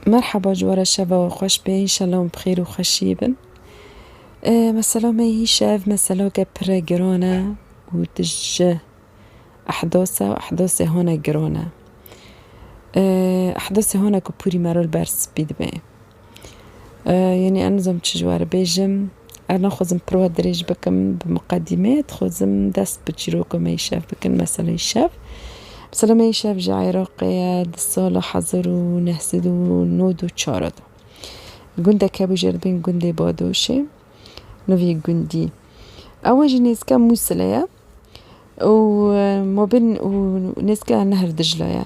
Merhaba ji we re şeva we xweş be înşallah hûn bi xêr û xweşiyê bin. Mesela me hî şev meselake pire giran e û tij ji ehdas e û ehdasê hane giran e. Ehdasê hane ku pûrî me re li ber spî dibe. Yanî ez nizam çi ji we re bêjim. Ev naxwazim pirwa dirêj bikim bi miqedîme, dixwazim dest bi çîroka me yê şev bikim, meseleyê şev. Mesela me yê şev ji Iraqê ye, di sala hezar û neh sed û nod û çar de gundek hebû jê li bin gundê Badoşê, nivî gundî ew jî nêzika Mûsilê ye û mabên û nêzika Nehr Diclê ye.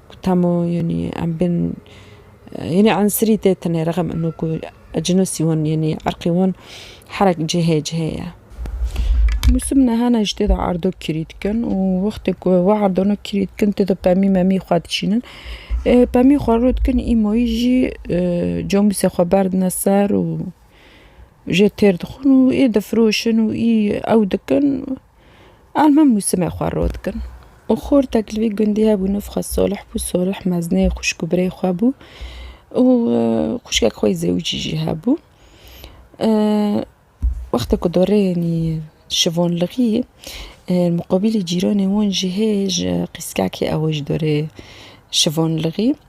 Ku temo yanî em bên yanî ensirî tê tenê rexm eno ku cinisî wan yanî erqî wan herek cihê cihê ye. Mûsim niha ne ji tê de erdo kirî dikin û wextê ku we erdona kirî dikin tê de pemî memî xwe dişînin. Pemî xwe rû dikin îmoyî jî comûsê xwe berdine ser û jê têr dixin û ê difiroşin û î ew dikin. Alma mûsimê xwe rû dikin û xortek li vî gundî hebû nûv xwe Solih bû. Solih mezneyê xwişk û birê xwe bû û xwişkek xwe yê zewicî jî hebû. Wextê ku doreyên yî şivon li xî muqabîlî cîranê wan jî hê ji qîskekê ew jî dorê şivon li xî.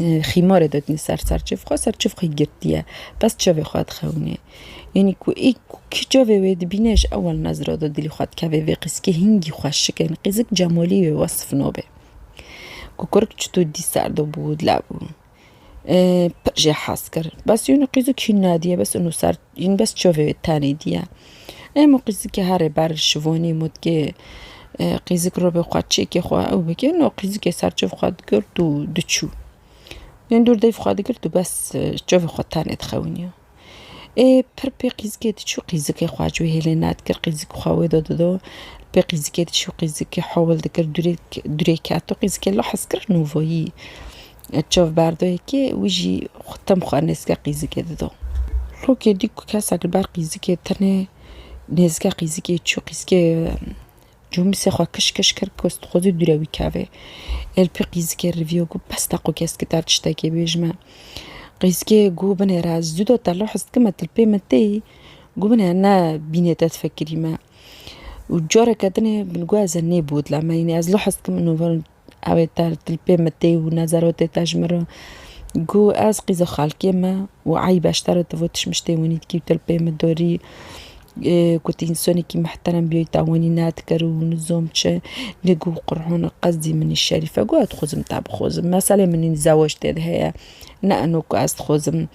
Xîmarê didin ser serçev xwe, serçev xwe girtiye, bes çavê xwe dixewinê. Yanî ku ê ku kî çavê wê dibîne ji ewel nezra da dilî xwe dikeve vê qîzikê hingî xweşik e. Qîzik Cemalî wê wesf nabe. Ku kurik çito dî ser de bû, dilebû. Pir jê hez kir. Bes yanî qîzik hîn nediye, bes ino ser Hîn bes çavê wê tenê diye. Em û qîzikê herê ber şivonî mûtkê qîzik robê xwe çêkê xwe ew bike no qîzikê ser çav xwe digirt û diçû. Hîn dûr deyv xwe digirt û bes çavê xwe tenê dixewiniya. Ê pir pê qîzikê diçû qîzikê xwe ji wê hêlê nedikir qîzik xwe wê de dido pê qîzikê diçû qîzikê hewil dikir dûrê dûrê keto qîzikê lehaz kir nûvayî. Çav berdoyekê wî jî tem xwe nêzîka qîzikê dido. Lokê dî ku kesek li ber qîzikê tenê nêzîka qîzikê çû qîzikê cûmîsê xwe kiş kiş kir ku xwedî dûre wî kevê. Ê li pê qîzikê riviyo ku bes te ku keskî te tiştekê bê ji me. Qîzikê ku binêre ez zû de te li hez dikim me tu li pê min têyî ku binêre ne bînê te difekirî me. Û careke din ê min got ez ê nêbodlem me yînî ez li hez dikim Ew ê te li tilpê me tê û ne zerotê te ji min re. Ku ez qîza xalkê me û eyb e ji te re tivû tişmiş tê winî dikî û tilpê me dorî. Ku tu însanekî mihterem bîyî te winî nedikir û nizam çi. Lê ku qur'ana qesdî min î şerîf e ku ez dixwazim te bixwazim. Meselê min î zewac tê de heye. Ne eno ku ez dixwazim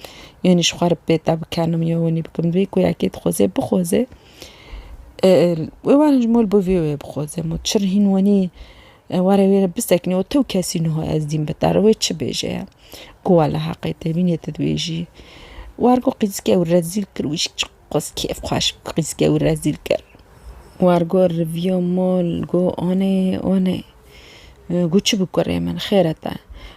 yanî ji xwe re pê te bikenim ya winî bikim. Divê ku yekê dixwaze bixwaze. Wê werin ji mol bi vê wê bixwaze. Ma çir hîn winî. Warê wê re bisekine û tew kesî nuha ez dîm bi te re wê çi bêje ye. Ku wa li heqê te bînê tu dibêjî. War got qîzike wî rezîl kir wî çi qas kêf xweş bû qîzike wî rezîl kir. War got riviya mal got anê anê. Got çi bû kurê min xêr e te.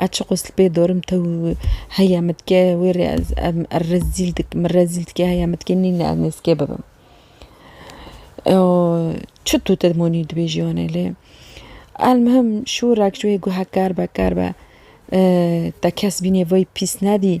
Ez çi qosli pê dorim te û heya min dike wê rê ez em er rezîl dik min rezîl dike heya min dike nîne ez nêzikê bibim. Eo çi tu te monî dibêjî wane lê elmihim şûrek ji wê guhe kar be kar be te kes bînê vay pîs nedî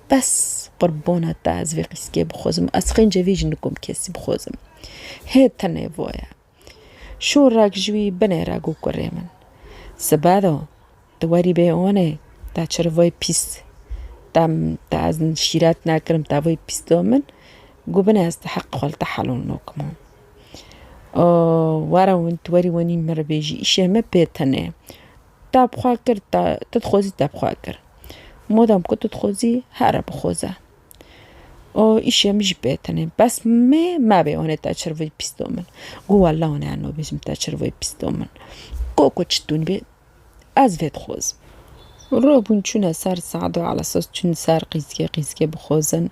Bes qurbona te ez vê qîskê bixwazim, ez qêncê vê jinikom kesî bixwazim. Hê tenê vo ye. Şorek ji wî binê re got kurê min. Sibedo, tu werî bê onê, te çi rivayê pîs te te ez şîret nekirim te vayê pîs da min, got binê ez ti heq xwe li te helal nakimo. Were win tu werî wenî min re bêjî îşê min pê tenê. Te bi xwe kir, te tu dixwezî te bi xwe kir. Madam ku tu dixwezî here bixweze. O îşê min jî pê tenê. Bes mê mebê wan ê te çir vê pîsto min. Got wela wan ê no bêjim te çir vê pîsto min. Got ku çi tûn bê ez vê dixwezim. Rû bûn çûne ser sado ala sos çûn ser qîzgê qîzgê bixwezin.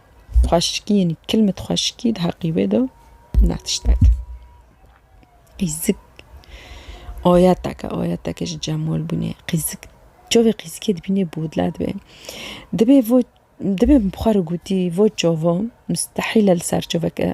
Xweşikî yenî kilmet xweşikî di heqî wê de ne tiştek e. Qîzik ayetek e, ayetekê ji Cemal bûnê. Qîzik çavê qîzikê dibînê bodle dibe. Dibê vo dibê xwe re gotî vo çava mustehîle li ser çaveke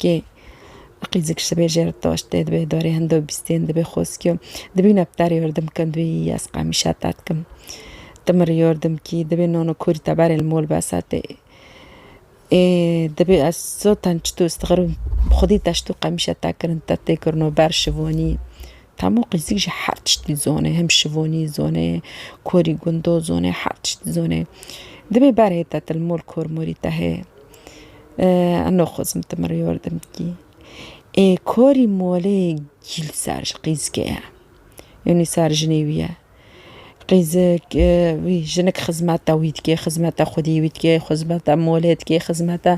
Kê qîzik şibê jêr taş tê dibê darê hindo bîstên dibê xoskiyo dibî nepter yordim kin dibî yas qemîşa tat kim timir yordim kî dibê nono kurî te berê li mol besa tê ê dibê ez sotan çito stixirûm xwedî te şito qemîşa te kirin te tê kirino ber şivanî Hemû qîzîk jî her tiştî zone hem şivonî zone korî gundo zone her tiştî zone dibê berê te til mol kor morî te hê no xozim ti mir yordim kî ê korî molê gîl ser ji qîzikê ye yonî ser jinê wî ye Qîzik, wî jinik xizmeta wî dike, xizmeta xwedî wî dike, xizmeta molê dike, xizmeta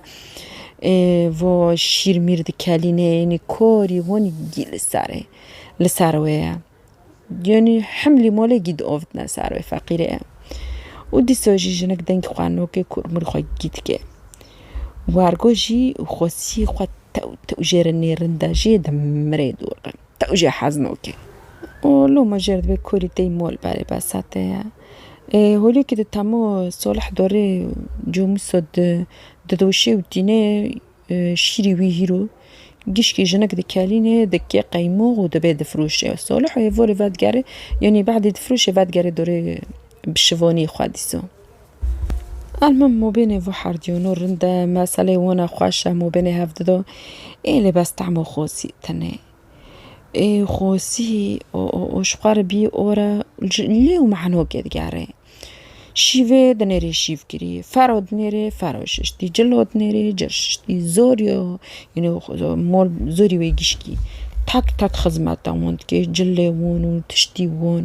vo şîr mîr dikelîne yanî korî honî gî li ser e, li ser wê ye. Yanî himlî molê gî diovitine ser wê feqîrê ye. Û dîsa jî jinik dengê xwe nake ku mir xwe gî dike. Wargo jî xwesî xwe tew tew jê re nêrin de jê dimirê dûr be. Ew jî heznok e û loma jê re divê kurî tey mol berê besa te ye. Ê holîkî di temo Salih Dorê Comuso di didoşê û tînê şîrî wî hîro gişkî jinik dikelînê dikê qeymox û dibê difiroşê. Salih hêvorê vedigerê yanî bedê difiroşê vedigerê dorê bi şivanî xwe dîsa. Elmim mobênê vû herdîyon û rind e, meselê wana xweş e, mobênê hev dido. Ê lê bes temo xosî tine. Ê xosî û û û ji xwe re bî ora ji lê û mehnokê digerê. Şîvê dinêrî şîvgirî, fero dinêrê fero şiştî, cilo dinêrî cil şiştî, zorî yo înê mol zorî wê gişkî. Tak tak xizmeta wan dike, cilê wan û tiştî wan.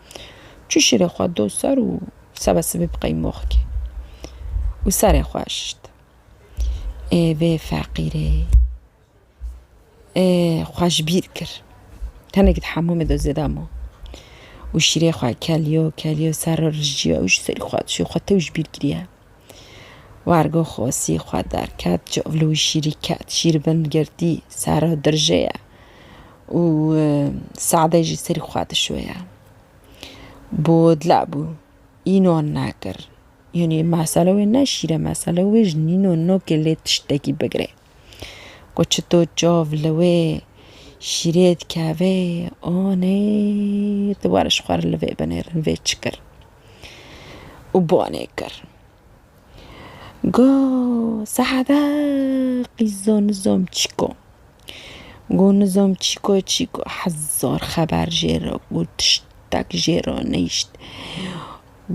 Çû şîrê xwe do ser û sebe sibî bi qeymox kê û serê xwe şişt. Ê vê feqîrê ê xwe ji bîr kir. Tenekî di hemûmê do zêde ma û şîrê xwe keliyo keliyo ser rijîya û ji serî xwe dişiyo xwe tew ji bîr kiriye. Wergo xosî xwe derket, çol û şîrî ket, şîr bin girtî, serra dirjê ye û Seedê jî serî xwe dişoye. Bo dile bû, înan nekir. Yanî mesele wê ne şîr e, mesele wê ji nîno nokê lê tiştekî bigirê. Ku çi to çav li wê şîrê dikeve anê tu were ji xwe re li vê binêrin vê çi kir û banê kir. Got Seheda qîzo nizo çîko got nizo çîko çîko hezar xeber jê re got tiştek jê re neyşt.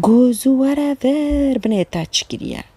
Got zû were vir binê te çi kiriye.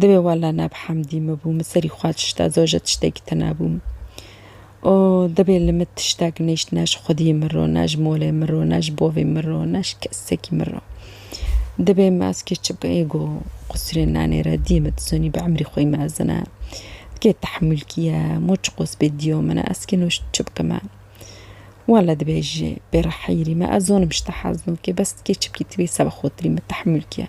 Divê walla nab hemdî me bû min serî xwe tişta zoje tiştekî tena bûm û divê li min tiştek nêşt ne ji xwedî min ro ne ji molê min ro ne ji bovê min ro ne ji kesekî min ro divê me ez kê çi bikê go qusirê nanê re dî min dizonî bi emrî xwê mezin e kê tehmûl kîye mo çi qos bê dîyo min e ez kê nû çi bikime walla dibê jî bê re heyirî me ez zonim ji te hezno kê bes kê çi bikî tu bê seba xotirî min tehmûl kîye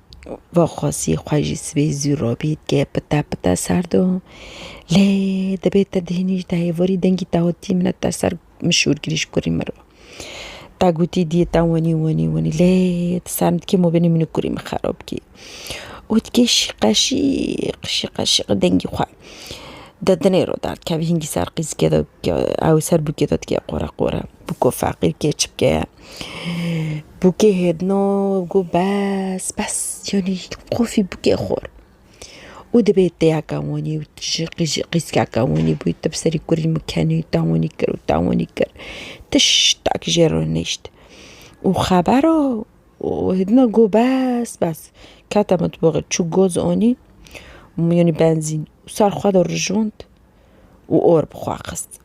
Vaxwazî xwe jî sibê zû robî dike pite pite serd o. Lê dibê te dihînî ji dayê vorî dengî te hotî min e te ser min şûr kirî ji kurî min re. Te gotî diyê te wenî wenî wenî lê ti ser min dikê mobîlê min û kurî min xerab kî. Û dikê şîqe şîq şîqe şîq dengî xwe di dinê re derdikevî hingî ser qîzikê de ew ê ser bûkê de dikê qore qore bûko feqî bike çi bike. Bûkê hêdino got bes bes yanî qufî bûkê xwar. Û dibê têyaka wanî û ji qîjî qîskeka wanî bû te bi serî kurî min kenî û te wanî kir û te wanî kir tiş tak jê re nişt. Û xebera hêdina got bes bes kete mitbaxê çû goz anî yanî benzîn û ser xwe de rijand û or bi xwe xist.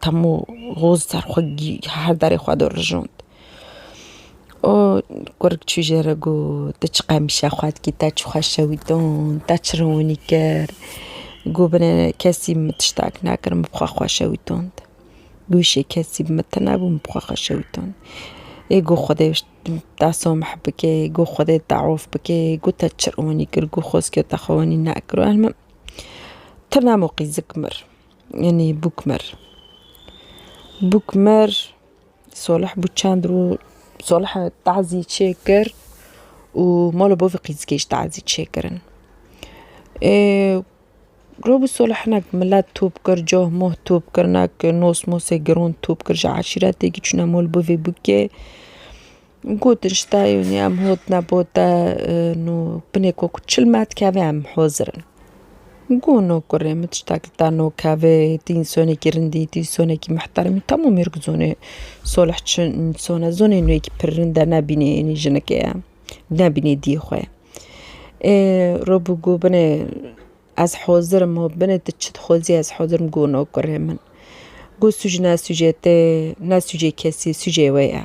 Temo roz ser xwe gî her derê xwe dirijand. O kurik çû jê re got, Tu çi qemişe xwe dikî, te çi xwe şewitand, te çi ronî kir. Got binê kesî min tiştek nekir, min bi xwe xwe şewitand. Wişê kesî bi min tune bû, min bi xwe xwe şewitand. Ê got Xwedê te samih bike, got Xwedê te af bike, got te çi ronî kir, got xwezikê te xwe wenî nekir. Got tu ne mo qîzik mir. Enê Bûkmer. Bûkmer Salih bû çend roj Salihê tazî çêkir û mala bavê qîzgê jî tazî çêkirin. Ê roj bû Salih hinek milet top kir, coh moh top kir, hinek nos mosê giran top kir ji eşîretê çûne mol bavê bûkê. Gotin ji dayûnê em hot ne bo te nû binê ku çil me dikeve em hozir in. Got no kurê min tişta ki te no kevê dînsonekî rindî dînsonekî mihteremî temû mêrg zonê solih çin înson e zonê nû yekî pir rind e nebînê yenî jinekê ye nebînê diyê xwe ye. Ê rû bû got binê ez hozir im hot binê tu çi dixwazî ez hozir im got no kurê min. Got sûc ne sûcê te ne sûcê kesî sûcê wê ye.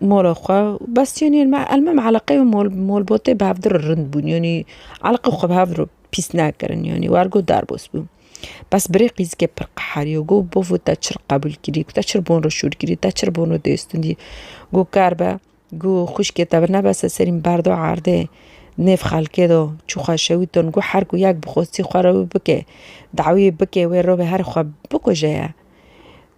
mola xwe bes yanî elmam eleqeyê molbotê bi hev re rind bûn yanî eleqê xwe bi hev re pîs nekirin yanî wer got derbas bû bes birê qîzikê pir qeheriya got bavê te çi qebûl kirî te çi li bo min re şûr kirî te çi li bo min re dê stûndî got ker be got xwişkê te bi nebese serî min berda erdê nêv xelkê de çû xwe şewitand got her ku yek bi xwestî xwe re wî bike dawiyê bike wê re wê herî xwe bikuje ye.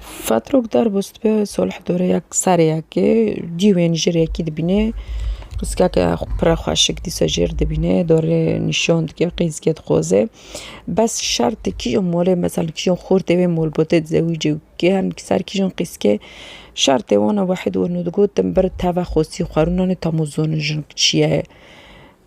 Fatrok derbûs dibe solhedoreyek sereyekê dîwên ji rêkî dibîne piskeke pire xweşik dîsa ji rê dibîne dorê nîşan dike qîzgê dixwaze bes şertê kîjan malê mezin kîjan xortê wê malbatê di zewicê giyan di ser kîjan qîzkê şertê wan e wahid weno digot tim bir teve xwesî xwerûnanê tamo zonê jin çiye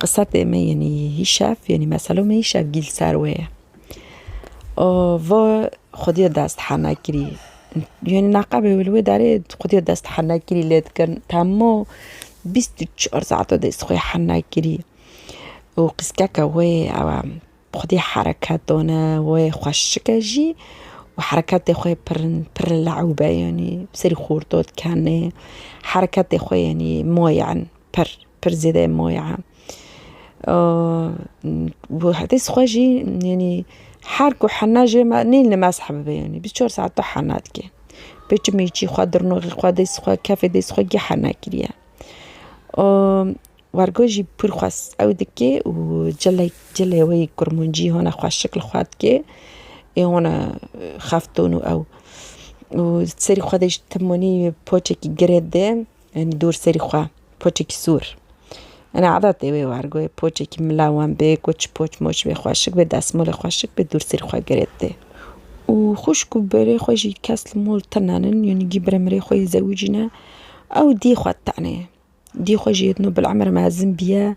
Qised ê me yenî hîşev yenî meselo me hîşev gîl ser wê ye. O va xwedîya dest henekirî yenî neqebê wê li wê derê xwedîya dest henekirî lê dikin temo bîst û çar saeto dest xwe yê henekirî û qîskeke wê yê ew e xwedî hereket dane wê xweşike jî û hereketê xwe yê pir pir lewb e yenî bi serî xortot kenê hereketê xwe yenî maye pir. Pir zêde moya e. Û hetê sixwe jî yanî her ku hene jê me nîn li mezheb bibe yanî bîst çar saet tu hene dikî. Pêçî mêçî xwe dirnoxî xwe dê sixwe kefê dê sixwe geh hene kiriye. Û wergo jî pir xwes ew dikê û cilek cilê wê yê kurmancî hone xweşik li xwe dikê ê hone xefton û ew. Û serî xwe dê ji timonî poçekî girê didê. Em dûr serî xwe, poçekî sor. Ena edetê wê wergoyê, poçekî mila wan bê ku çi poç moç bê xweşik bê, desmolê xweşik bê dûr serî xwe girêdê. Û xwişk û berê xwe jî kes li mol tenanin, yanî gî bire mirê xwe yê zewicî ne, ew diyê xwe tenê. Diyê xwe jî yê din û bil'emr mezin biye.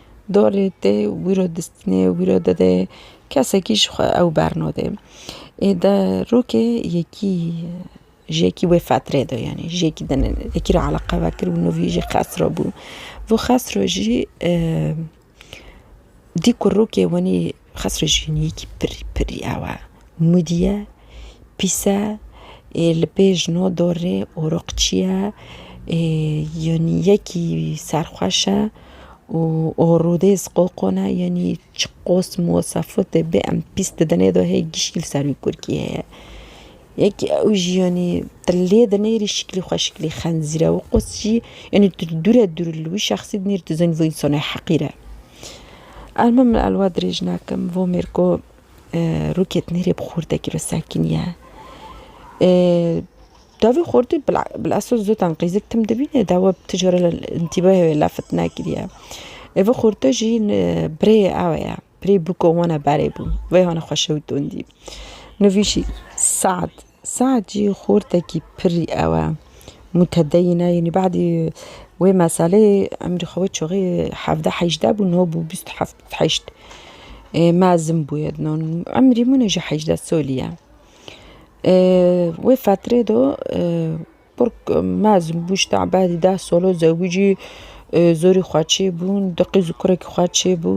Dorê te wî ro distîne, wî ro dide, kesekî ji xwe ew bernade. Ê de rokê yekî ji yekî wê fetrê de yanî ji yekî din yekî re eleqe vekir û nûvî jî Xesro bû. Vû Xesro jî dî ku rokê wenî Xas rejîniyekî pirî pirî ew e. Mûdî ye, pîs e, li pêş no dorê oroqçî ye, yanî yekî serxweş e û orûdêz qoqon e, yanî çi qos mûwesefat e bê em pîs didin êdo hê gişkî li ser wî kurkî heye. Yek ew jî yanî te lê de neyê rî şiklî xwe şiklî xenzîr e û qûs jî yanî tu dûr e dûr li wî şexsî dinê rî tu dizanî vî însanê heqîr e. Erme min elwa dirêj nakim vî mêr ku rûkê dinê rê bi xurtekî ve sekîn ye. Tevî xurtî bil esas zû tenqîzik tim dibîne dawa bi tu cara întîbahê wê lafit nekiriye. Vî xurte jî birêyê ew ye. Pirê bûko wana berê bû. Veyhana xwe şew tondî. Nivîşî Sead. Sead jî xortekî pirî ew e. Mutedeyîn e yanî badî wê meseleyê emrî xwe wê çaxê hevdeh hejdeh bû niha bû bîst û heft bîst û heşt. Mezin bûye dinan. Emrî min e jî hejdeh salî ye. Wê fetrê de Kurk mezin bû ji tevbelî deh solo zewicî zorî xwe çêbûn du qîz û kurekî xwe çêbû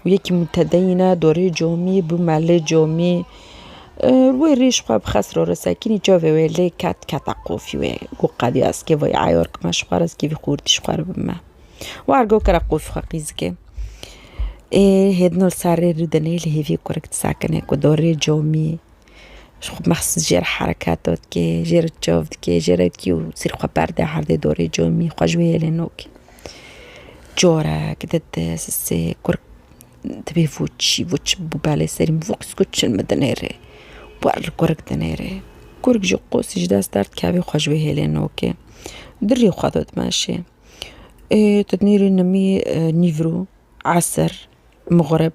û yekî mûtedeyîne dorê comî bû me lê comî wê rîj xwe bi xesro re sekinî çavê wê lê ket kete qofî wê got qedî ez kêvo yê eyor kime ji xwe re ez kêvî xûrtî ji xwe re bime war got kere qofî xwe qîzikê ê hêdino li ser rê rûdinê li hêvî kurek disekine ku dorê comî. Ji xwe behs jê re hereket dikê, jê re çav dikê, jê re dikî û sîrê xwe berdê erdê dorê camî xwe ji wê hêlê nakê. Carek dide sisê kur dibê vûçî vûçî bi belê serî min vûks ku çin min dinêrê. Ber li kurik dinêrê. Kurik jî qosî ji dest derdikevê xwe ji wê hêlê nakê. Dirrî xwe da dimeşê. Ê tu dinêrî nimî nîvro, eser, mixrib.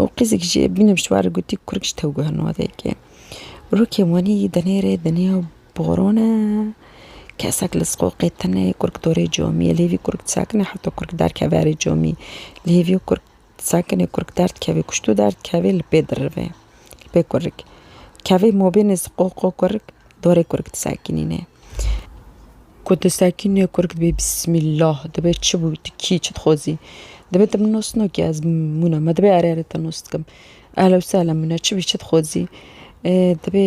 û qîzek jî bînim ji warê gotî kurek ji tew guherîn odeyekê. Rokê wanî denêrê dinya boron e, kesek li siqoqê tune kurek dorê comî ye lê vî kurek disekine heta kurek derkeve erê comî lê vî kurek disekine kurek derdikeve kuştu derdikeve li pê dirive. Pê kurik. Kevê mobênê zi qo qo kurik, dorê kurik disekinîne. Ku disekinîne kurik dibê bismîllah, dibê çi bû tu kî çi dixwazî. Dibê tu min nusno kî ez mûna me dibê erê erê te nus dikim. Ehlewsehlen mûne çi bî çi dixwazî. Dibê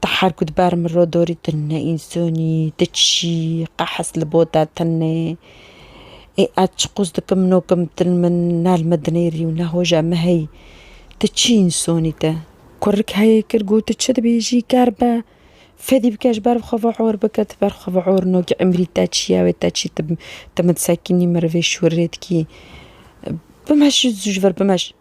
Ti her ku di ber min re dorî tu neinsanî, tu çî, qehes li bo te tune. Ê ez çi qûz dikim nokim til min ne li min dinêrî û ne hoja min heyî. Ti çi însanî te? Kurik heyê kir got tu çi dibêjî ker be. Fedî bike ji ber xwe vior bike tu ber xwe vior nokî emrî te çi ye wê te çi tu min disekînî min rivê şûrê dikî. Bimeşî zû ji vir bimeş.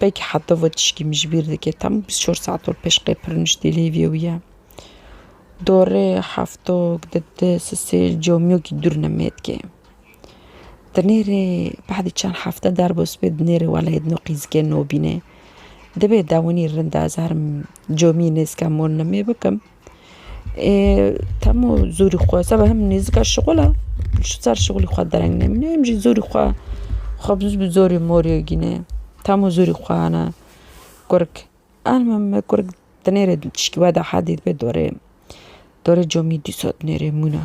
Belkî heta ve tişkî min ji bîr dike tam bîst û çar saet ol pêş qey pir niştî li hêvî wî ye. Dorê heftok di di sisêl camiyokî dûr nemêdikê. Di nêrê badê çend hefte derb û sibê di nêrê weleyê di no qîzikê nobînê. Dibê dewinî rind e ez herim camiyê nêzika mol nemê bikim. Temo zorî xwe seba him nêzika şixula ji ser şixulî xwe dereng nemîne him jî zorî xwe xwe bi zorê morê gîne tamo zorî xwe hene kurg alma me kurg dinêre tişkî wede hedî dibe dorê dorê comî dîsa dinêrê mûna.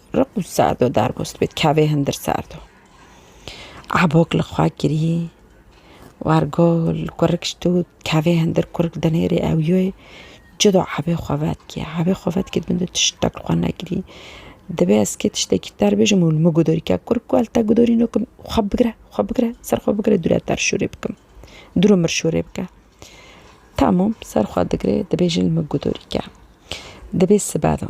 Riq û Se'do derbûst bê, kevê hindir Se'do. Ebok li xwe kirî, wer gul, kurik şitû, kevê hindir kurik dinêrê ew yoy, cudo ebê xwe vetkê. Ebê xwe vetkê dibin tu tiştek li xwe nekirî. Dibê ez kê tiştekî ter bijim û li min gudorî ke kurik ku li te gudorîno kim, xwe bigire, xwe bigire, ser xwe bigire dûre ter şûrê bikim. Dûr û mir şûrê bike. Tamam, ser xwe digirê, dibêjin li min gudorî ke. Dibê sibe do.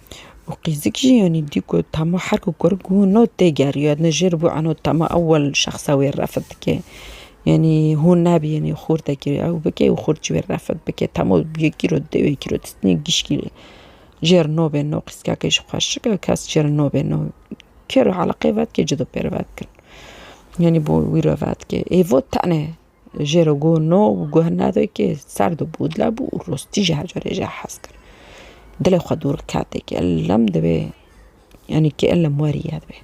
û qîzik jî yanî dî ku tama her ku kur ku no tê geriya ne jê re bû eno tama ewil şexsa wê refet dike. Yanî hûn nabî yanî xurtekî ew bike û xurt ji wê re refet bike tama yekî ro dê wekî ro distînê gişkî re jê re no bê no qîskake ji xweşik e kes jê re no bê no kêro eleqeyê vedike cido pê re vedikin. Yanî bo wî re vedike êvo tene. Jê re guh no û guh nede ki ser di bû dile bû û rostî jî heca rê jê hez kir. Dilê xwe dûr kete ki elem divê yanî ki elem werî ye divê.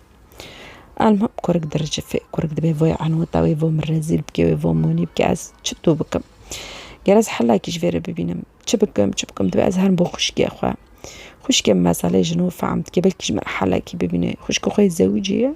Elmam kurik diricifê, kurik dibê vê enûta wê vo min rezîl bike wê vo min wî bike ez çitû bikim. Ger ez helakî ji vê re bibînim çi bikim çi bikim divê ez herim bo xwişkê xwe. Xwişkê min meselê ji nû fehm dike belkî ji min helakî bibîne. Xwişka xwe yê zewicê ye.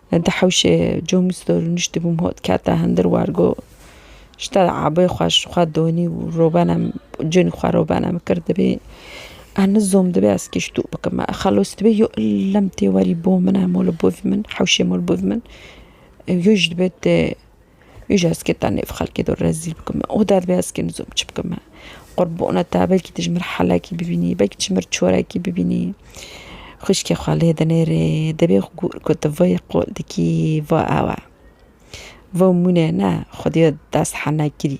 Di hewşê comî stor û niştibûm ho dikete hindir war go ji te abê xwe ji xwe donî û robena conî xwe robena min kir dibê ene zom dibê ez kî ji to bikim me xelos dibê yo illem tê werî bo min e mol bo vî min hewşê mol bo vî min yo ji dibê te Ji eskê te nêv xelkê do rezîl bikim û te divê eskê min zû çi bikim. Qurbona te belkî tu ji min helekî bibînî, belkî tu ji min çorekî bibînî. Xwîşkê xwe lê dinêrê divê ku tu vê qol dikî va ew e. Vê mûnê ne xwedî dest hene kirî.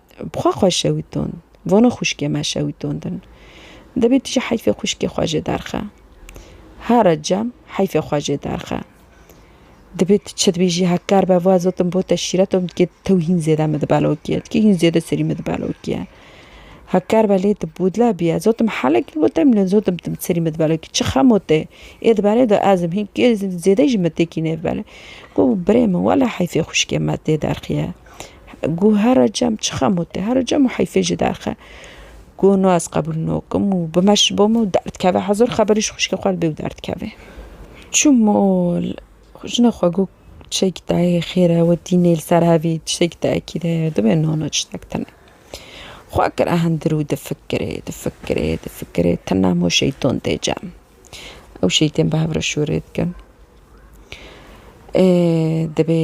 Bi xwe xwe şewitand. Vana xwişkê me şewitandin. Dibê tu jî heyfê xwişkê xwe jê derxe. Ha Recem, heyfê xwe jê derxe. Dibê tu çi dibêjî hekar be va zat in bo te şîret in dikê tew hîn zêde min dibelokîye. Dikê hîn zêde serî min dibelokîye. Hekar be lê tu bûdle bîye. Zat in helek bo te mîne zat in serî min dibelokî. Çi xema te ê di berê de ez im. Hîn kê zêde jî min têkî nêvibele. Got birê min wele heyfê xwişkê me tê derxîye. Ku hera cem çi xem û te hera cem û heyfê ji derxe ku no ez qebûl nokim û bime ji bo min û derdkeve hezar xeberî ji xwişkê xwe li bê û derdkeve. Çûm û jina xwe got tiştekî te heye xêr e we tînê li ser hevî tiştekî te ekîd heye divê no no tiştek tune. Xwe kire hundir û difikirê difikirê difikirê tune hemû şeyton tê cem. Ew şeytên bi hev re şûrê dikin. Ê dibê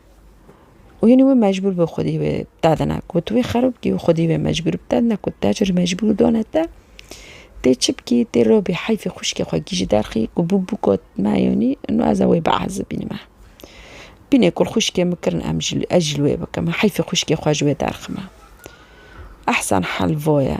û hînî wê mecbûr bi xwedî wê dadine ku tu wê xerab bikî û xwedî wê mecbûr bi dadine ku te çi mecbûr dane te tê çi bikî tê robî heyfê xwişkê xwe kî ji derxî ku bû bû got me yanî no ez ê wê biezibînim me bîne ku xwişkê min kirin em jî ez jî li wê bikim heyfê xwişkê xwe ji wê derxime ehsen hel voye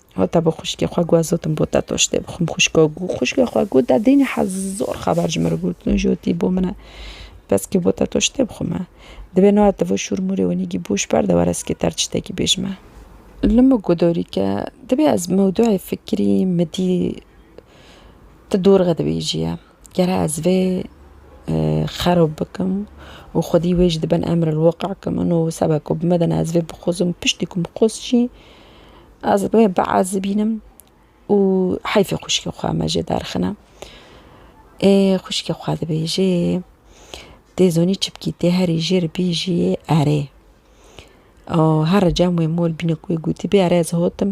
Hate bo xwişkê xwe gu ez zotim bo te toştê bixwim xwişka gu xwişkê xwe gu te dînî hez zor xeber ji min re gotine jotî bo min e beskê bo te toştê bixwim e dibê no ate vo şûr mûrê winî gî boş berde were ez kê te re çitekî bêjim e. Li min gu dorî ke dibê ez mewdûeyê fikirî midî ti dor re dibêjî ye. Gere ez vê xerob bikim û xwedî wê jî di bin emrelweqî kim in û seba ku bi me de ne ez vê bixwazim piştî ku min xwest jî ez wê biezibînim û heyfê xwişkê xwe me jê derxine. Ê xwişkê xwe dibêjê tê zonî çi bikî tê herî jê re bêjî erê. Her cem wê mol bîne ku wê gotîbê erê ez hatim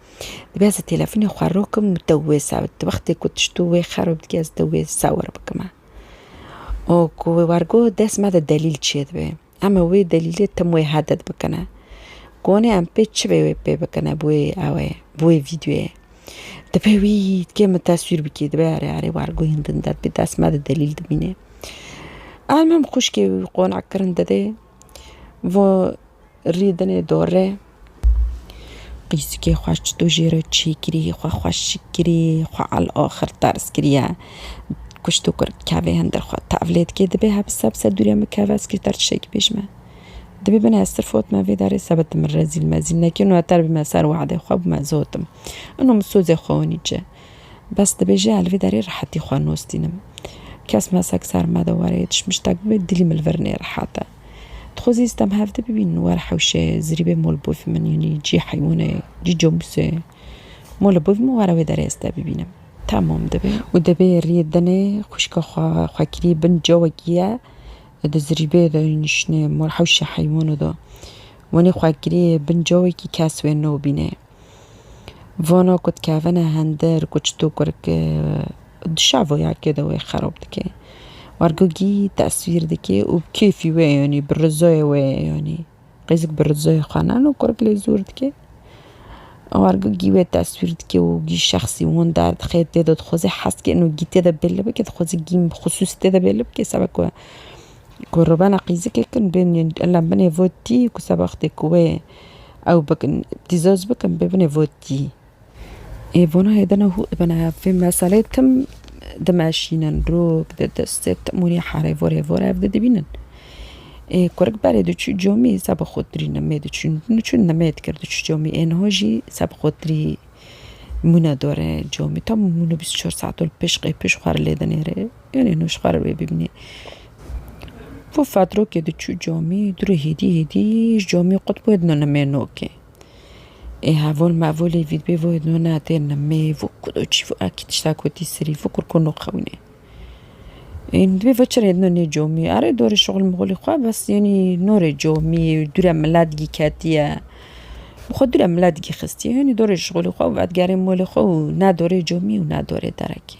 Dibe ez têlefonê xwe rokim û te wê sa di wextê ku tiştû wê xerab dike ez te wê sa wir bikime. Û ku wê war got dest me de delîl çê dibe. Em ê wê delîlê tim wê hedet bikine. Gonê em pê çi bê wê pê bikine bi wê awayê, bi wê vîdyoyê. Dibe wî dikê min teswîr bikî dibe erê erê war got hîn din derdbî dest me de delîl dimîne. Em hem xwişkê wî qonaxkirin didê. Vo rîdinê dorê. Qîsikê xwe ji tu jê re çê kirî, xwe xwe şik kirî, xwe al axir terz kiriye. Kuşt û kur kevê hindir xwe. Tevlê dikê dibê hebisa bisa dûrê min keve ez kêter tiştekî pêş me. Dibê bine ez sirf ot me vê derê sebe tu min rezîl mezîl nekî û neter bime ser wexdê xwe bûme zotim. Ino min sozê xwe winî çi. Bes dibêje li vê derê rehetî xwe nûstînim. Kes mesek ser me de were yê tişt miştek bibe dilî min li vir nêrehet e. Dixwezî stem hevdî bibînin were hewşê zirîbê mol bûvî min yanî cî heywûnê cî comusê mole bûvî min were wê derê ez te bibînim. Tamam dibe. Û dibê riyê dinê xwişka xwe xwekirî bin cawekî ye di zirîbê de nişinê mol hewşê heywûnê de. Wenî xwekirî bin cawekî kes wê nobînê. Vana ku dikevine hindir ku çito kur ki di şevoyakê de wê xerob dike. Wergogî tesvîr dike û bi kêfî wê yanî bi rizoyê wê yanî qêzik bi rizoyê xwe ne no kurik lê zor dike. Wergogî wê tesvîr dike û gî şexsî wan derdixe tê de dixwaze hezkê no gî tê de bêle bike dixwaze gîn bi xisûsî tê de bêle bike sebe ku Ku rûbena qîzikê kin bên yên la binê vo tî ku seba wextê ku wê ew bikin tî zoj bikin bê binê vo tî. Ê vona hê dina hû bina vê meseleyê tim dimeşînin rûk di destê tim hûnê harê vorê vor ev di dibînin. Ê kurik berê diçû comî seba xwe tirî nimê diçûn niçû nimê dikir diçû comî ê niha jî seba xwe tirî mûne dore comî tam mûne bîst û çar saet ol pêş qey pêş xwe li lê dinêrê. Tenê nuşxar wê bibînê. Vû fatrokê diçû camî dûrê hêdî hêdî ji camî qut wê dino nimê nokê. Ê hevol mevolê vî dibê wê dino na tê nimê vû ku do çî vû akî tişta kotî serî vû kur ku noxewinê. Ê min dibê veçirê dino nê camî erê dorê şixul mixulê xwe bes yanî norê camî dûre mila digî ketiye. Xwe dûre mila digî xistiye yanî dorê şixulê xwe û vedigerê molê xwe û ne dorê camî û ne dorê derekê.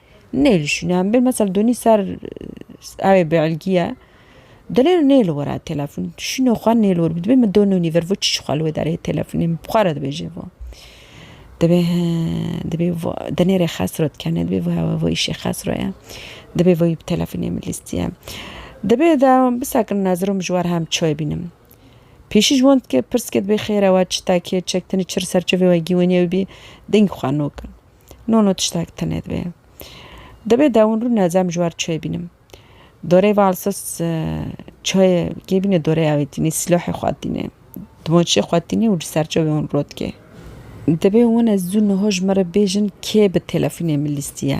Nêlişîne em bê mesel donî ser ewê bêelgîye dilê nêlo were têlefon şîno xwe nêlo were dibê min dononî vir vo çi ji xwe li wê derê têlefonê min bi xwe re dibêje vo dibê he dibê vo di nêrê xesro dikene dibê vo hewa vo îşê xesro ye dibê vo yî bi têlefonê min lîstiye dibê de bisekin nezirom ji wer hem çi wê bînim pêşî ji wan dike pirs ke dibê xêr ewa çi tekê çektinî çi li ser çi vê wegî wenî ew bî deng xwe nokin. No no tiştek tine dibe. Dibe dewin rû ne zem ji wer çê bînim. Dorê valsız çayê kê bîne dorê evê tîne silahê xwe tîne. Dimaçê xwe tîne û ji ser çavê hûn rotke. Dibe wine zû niha ji me re bêjin kê bi telefonê min lîstiye.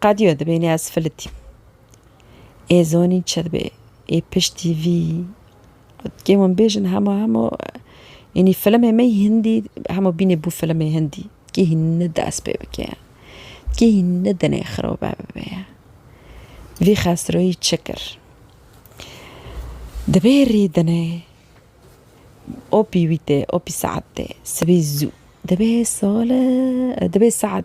Qediyo dibênî ez filitîm. Ê zonîn çi dibe? Ê piştî vî kêm hûn bêjin hema hemû yanî filimê me hindî hemû bînê bû filimê hindî. Kê hîn ne dest pê bike ye. Kê hîn ne dinê xirobe bibe ye. Vî xesroyî çi kir? Dibê rî dinê opî wî tê, opî saet tê, sibî zû. Dibê sole dibê saet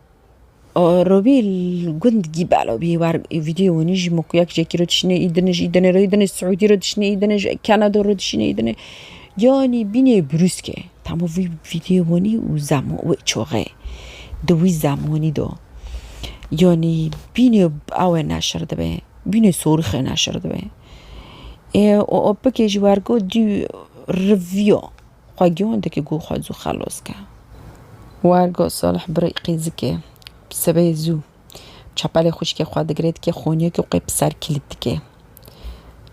Robî gund gî belo bî war vîdyoyê winî jî min ku yek jekî ro dişîne î din jî dinê rê dinê Siûdî ro dişîne î dinê ji Kenada ro dişîne î dinê yanî bînê brûske hemû vî vîdyoyê winî û zama wê çaxê di wî zamanî de yanî bînê awe neşir dibe bînê sorixê neşir dibe ê û opikê jî wergo dî rivîya. Xwe giyon dike ku xwe zû xelos ke. War got Salih bi rîqî zikê bi sibê zû çepelê xwişkê xwe digire dike xonîye ku qey bi ser kîlît dike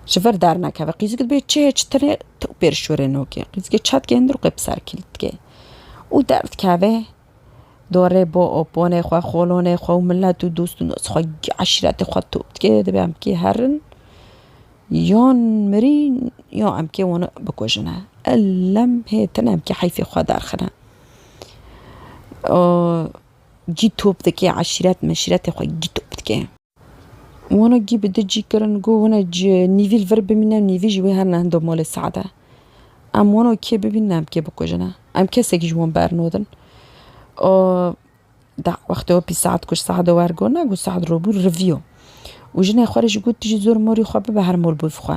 ji vir dernekeve. Qîzik dibe çê çi tire tewpêr şûrê nokê. Qîzikê çet keye ndir û qey bi ser kîlît dike û derdikeve Dorê bo û ponê xwe, xolonê xwe û milet û dost û nos xwe, eşretê xwe top dike, divê em kê herin yan mirîn yan em kê wan bikujine. Elem hêtin em kê heyfê xwe derxine. Cî top dike eşret meşretê xwe cî top dike. Wano gî bi di cî kirin ku hûn e ji nîvî li vir bimîne û nîvî ji wê her ne hindo malê Sead e. Em wano kê bibînin em kê bikujine. Em kesekî ji wan bernodin. O da wextê we pî Sead kuşt Sead e wergona ku Sead robû rivîyo. Û jinê xwe rê jî got tu jî zor morî xwe bibe her mol bû bi xwe.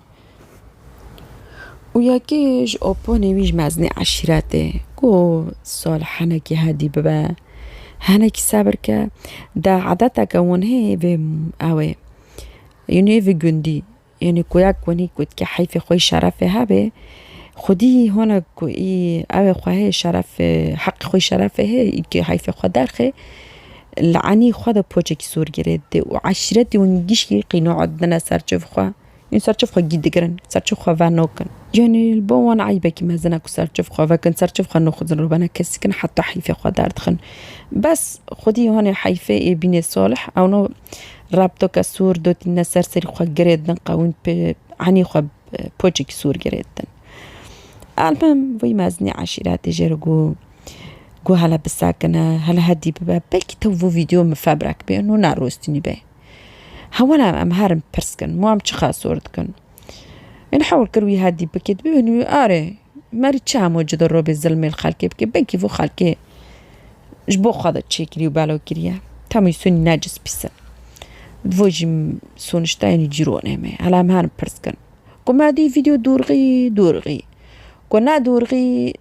Û yekê ji oponê wî ji meznê eşîretê got, Salih hinekî hedî bibe, hinekî sebir ke, de edeteke wan heye vê ew ê, yanî vê gundî, yanî ku yek wanî ku dike heyfê xwe yî şerefê hebe, xwedî hona ku î ew ê xwe hê şerefê heqê xwe yî şerefê hê î heyfê xwe derxe, li enî xwe de poçekî sor girê dide û eşîretê wan gişkî qînae dibine ser çiv xwe. Ên ser çiv xwe gî digirin, ser çiv xwe venokin. Yanî li bo wan eybekî mezin e ku ser çiv xwe vekin, ser çiv xwe nuxuzin rû bene kesikin heta heyfê xwe derdixin. Bes xwedî hanê heyfê ê bînê salih ewno reb doke sûr dotîne ser serî xwe girê din qewîm pê enî xwe poçekî sûr girê din. Elmim vî mezinî eşîretê jê re got ku hele bisekine, hele hedî bibe belkî tev vî vîdeo min febrek bê û nerostînî bê. Hewalan em herin pirs kin, wan çi xasor dikin? Min hewl kir wî hedî bikê, dibê min wî arê, merî çi hemû ci dirobê zilmê li xelkê bikê, belkî vî xelkê ji bo xwe de çêkirî û belo kiriye. Tam wî sonî necis pîs in. Di bo jî soniştayên wî cîronê me. Hela em herin pirs kin. Ku me dî vîdeo dorxî, dorxî. Ku ne dorxî,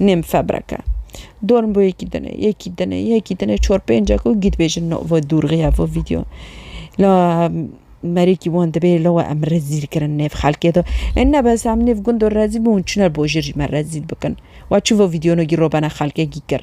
Nêm febrek e. Dorm bo yekî dine, yekî dine, yekî dine çor pêncek û gît bêjin no vo dûrxiya vo vîdeo. La merêkî wan dibê la we em rezîl kirin nêv xelkê de. E nebes em nêv gundo rezîl bûn çiner bo jir jî me rezîl bikin. Wa çi vo vîdeo no gî robena xelkê gî kir.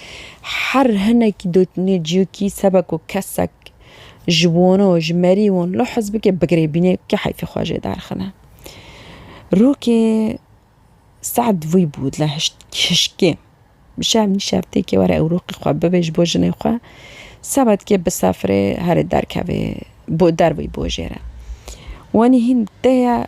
Her hinek dotnê ciyokî sebe ku kesek ji wano, ji merî wan li hizbikê bigirêbînê kê heyfê xwe jê derxine. Rokê Se'd vî bû li hişkê. Bi şev nî şev têkê were ew rokê xwe bibê ji bo jinê xwe. Sebedkê bi sefirê herê derkevê bo dervî bo jê re. Wanî hîn tê ye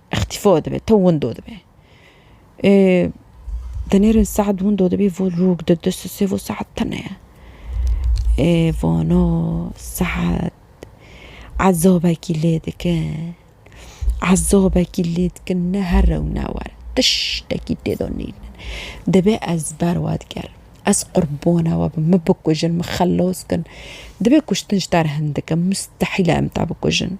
Ixtîfo dibe, to windo dibe. Dinêrin saet windo dibî vo rûk di di sisê vo saet tine ye. Ê vano saet ezabekî lê dikin. Ezabekî lê dikin ne her rew ne war. Tiştekî têda nînin. Dibe ez ber wa digerim. Ez qurbana we bim. Min bikujin, min xelas kin. Dibe kuştin ji te re hin dikin. Mustehîl e em te bikujin.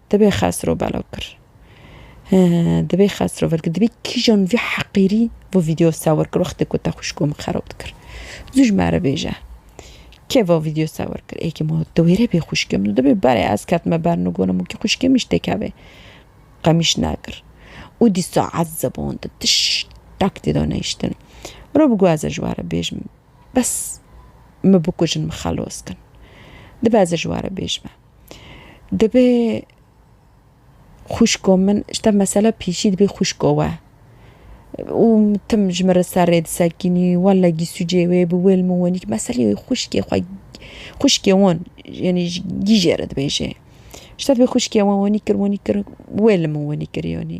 Dibê Xesro belav kir. He, dibê Xesro vir kir. Dibê kîjan vî heqîrî vî vîdeo sewir kir wextê ku te xwişko min xerab dikir. Zû ji me re bêje. Kê vî vîdeo sewir kir? Ê kê ma di wêrê bê xwişkê min û dibê berê ez ketime ber min û gonim wekî xwişkê min ji tê kevê. Qemîş nekir. Û dîsa ez zebandin. Tiştek tê de nehiştin. Miro bigo ez ê ji we re bêjim. Bes min bikujin min xelas kin. Dibe ez ê ji we re bêjime. Dibê xwişko min ji te mesele pîşî dibê xwişko we. Û tim ji min re serrê disekînî wele gîsûcê wê bi wêl min wenî ki meselê wê xwişkê xwe xwişkê wan yenî ji gîjê re dibêjê. Ji te dibê xwişkê wan wenî kir wenî kir wêl min wenî kir yanî.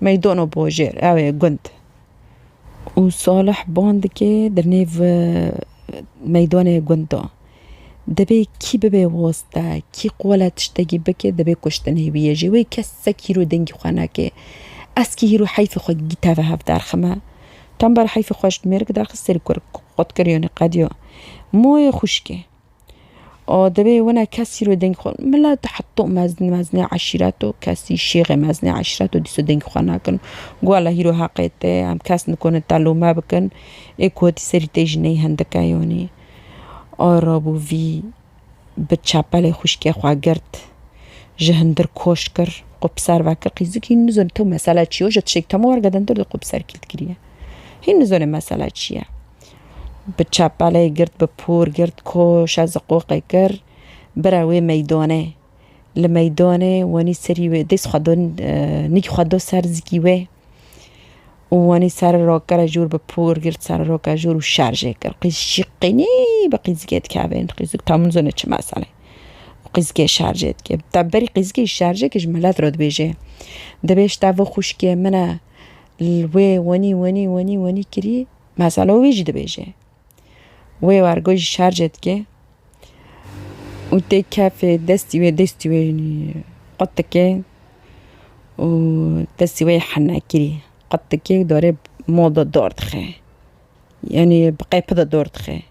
Meydono Bojêr ew ê gund û Salih ban dike di nêv meydonê gund de. Dibê kî bibe wasta, kî qole tiştekî bike dibê kuştin hê wî ye jî. Wê kesek hîro dengî xwe neke. Ez kî hîro heyfê xwe teve hev derxime. Tember heyfê xwe ji mêrik derxist serî kur qotkiriyo nê qediyo. Moyê xwişkê. û divê wina kesî ro dengê xwe mela tu heta mezin mezine eşîreto kesî şêxê mezine eşîreto dîsa dengê xwe nakin gala hîro heqê te ye em kes nikune te lome bikin ê ku tî serî te jî neyê hindike yanî ara bû vî bi çepelê xwîşkê xwe girt ji hindir koş kir xwe bi ser ve kir qîz dikî hîn nizane to mesele çi ye ji tişek teme wergedin dir de xwe bi ser kî dikiriye hîn nizane mesele çi ye. bi çepelê girt bi pûr girt koşa ziqoqê kir bira wê meydanê. Li meydanê wenî serî wê dês xwe do nîk xwe do ser zikî wê û wenî ser rokere jûr bi pûr girt ser roka jûr û şerjê kir. Qîz jî qînî bi qîzgê dikevên qîzik tam nizane çi meselê û qîzgê şerjê dike. Te berî qîzgê şerjê kir ji milet re dibêje dibêj te vê xwişkê min e li wê wenî wenî wenî wenî kirî Mesela wî jî dibêje. Wê wergo jî şerce dike û tê kefê destî wê destî wê qut dike û destî wê yê henekirî qut dike û darê moda dor dixe. Yanî bi qepi de dor dixe.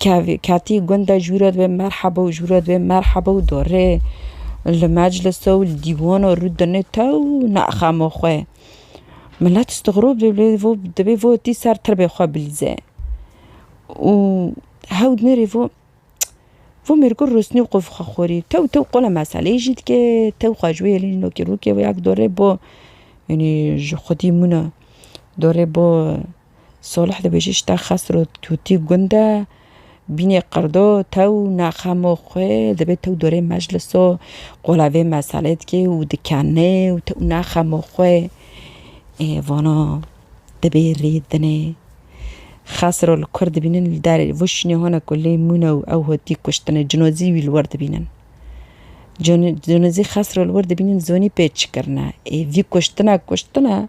Kevî ketî gunde ji wî re dibê merheba û ji wî re dibê merheba û dorê li meclisa û li dîwana rû dinê tew neaxama xwe. Milet istigrob dibê lê vo dibê vo tî ser tirbê xwe bilîze û hewl dinêrê vo vo mêrgo rûsnî xwe bi xwe xwerî tew tew qala meseleyê jî dike tew xwe ji wê yalîn nokê rokê wê ya dorê bo yanî ji xwedî mûna dorê bo Solih dibêje Şita Xesro Tutî gund e, bînê qirdo, tew naqemo xwe dibê tew dorê mecliso qola vê meselê dikê û dikenê û tew naqemo xwe ê vana dibê rê dinê. Xesro li kur dibînin li derê li vir şûnê hane ku lê mûne û ew hotî kuştine cinozî wî li wir dibînin. Cinozî Xesro li wir dibînin zonî pê çi kirine ê vî kuştina kuştine.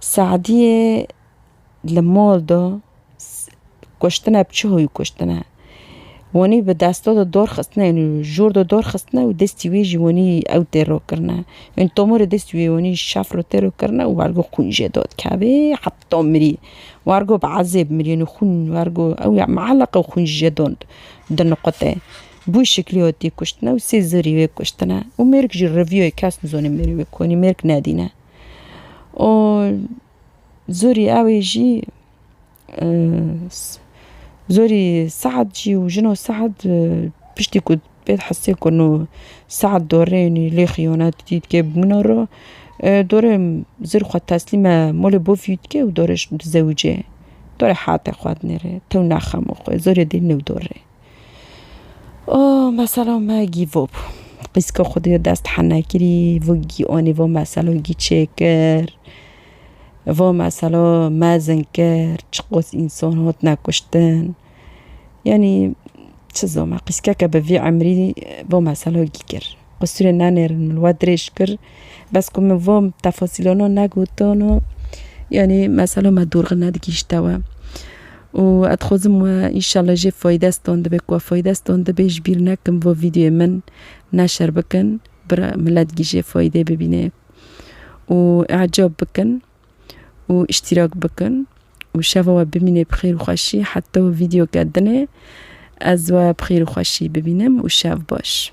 Se'diyê li mol de kuştine bi çi hoyî kuştine. Wanî bi desta de dor xistine û jor de dor xistine û destî wî ji wanî ew tê rok kirine. Ên tomorê destî wî wanî şaf re tê rok kirine û ergo xwîn jê de dikevê heta mirî. Ergo bi ezêb mirî û xwîn ergo ew ya meeleqe û xwîn jê de diniqute. Bi wî şeklî hatî kuştine û sê zerî wê kuştine û mêrik jî reviyayê kes nizane mêrê wê konî mêrik nedîne. û zorî ew ê jî zorî Sead jî û jino Sead piştî ku pê hesê kirin û Sead dorê nî lê xîyanet dîtke bi min re dorê zir xwe teslîme malê bav jî dike û dorê ji min dizewije dorê hate xwe dinêre tew naxemo xwe zorê dê newdore. Oh mesela me gîvo bû. Qîzka xwe dê dest hene kirî, vû gî anî vo mesela gî çêkir. Vo mesela mezin kir, çiqas însan hatine kuştin. Yanî çi zama qîzkeke bi vî emrî vo mesela gî kir. Qisirê nenêrin min we dirêj kir. Bes ku min van tefasîlanan negotan û yanî mesela me dorxî nedigihîşte we. Û ez dixwazim we înşallah jê faydestan dibe ku we faydestan dibe ji bîr nekin va vîdyoyê min neşer bikin bira milet jî jê faydê bibîne. Û ecab bikin û îştîrak bikin û şeva we bimîne bi xêr û xweşî heta vîdyoke dinê ez we bi xêr û xweşî bibînim û şev baş.